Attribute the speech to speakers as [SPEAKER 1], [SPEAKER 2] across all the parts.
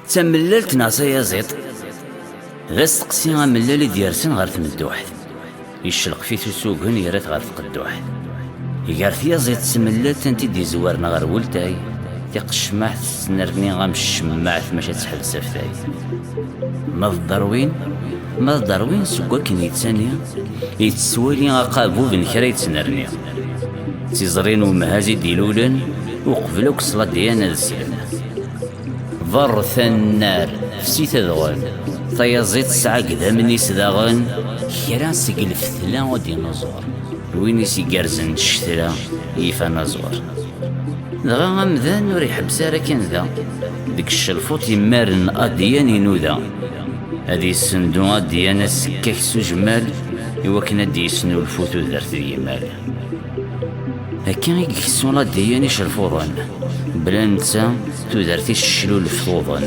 [SPEAKER 1] d tamellalt neɣ tayaziḍt d asteqsi amellal i d-yersen ɣer tmedduḥt yeccelqef-it usugen yerra-t ɣer tqedduḥt gar tyaziḍt d tmellalt ant i d-izewren ɣer weltay tiqecmaɛt tettnerni am ccemmaɛt maca tettḥelsaf tay ma d darwin Ma d Darwin seg wakken yettani, yetteswali aqabub n kra yettnerni. D tiẓri n umhaz i d-ilulen uqbel akk s ladyan ad slen. Berret annar, fsit adɣen, tayaẓi tesɛa gdamen-is daɣen, kra seg lfetla o dinuẓur. Win i s-igerzen ccetla, yif anaẓur. Dɣa amdan ur iḥebbes ara kan da, deg ccelfuṭ yemmaren adyan inuda. ad yessendu adyan asekkak s ujmal iwakken ad d-yesnulfu tudert d yimal akka i yeksun adyan icelfuḍen bla netta tudert iceclulef tuḍen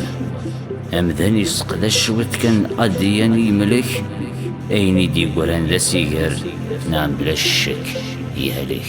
[SPEAKER 1] amdan yesseqdac cwiṭ kan adyan i yemlek ayen i d-yegran d asiger neɣ bla ccek yehlek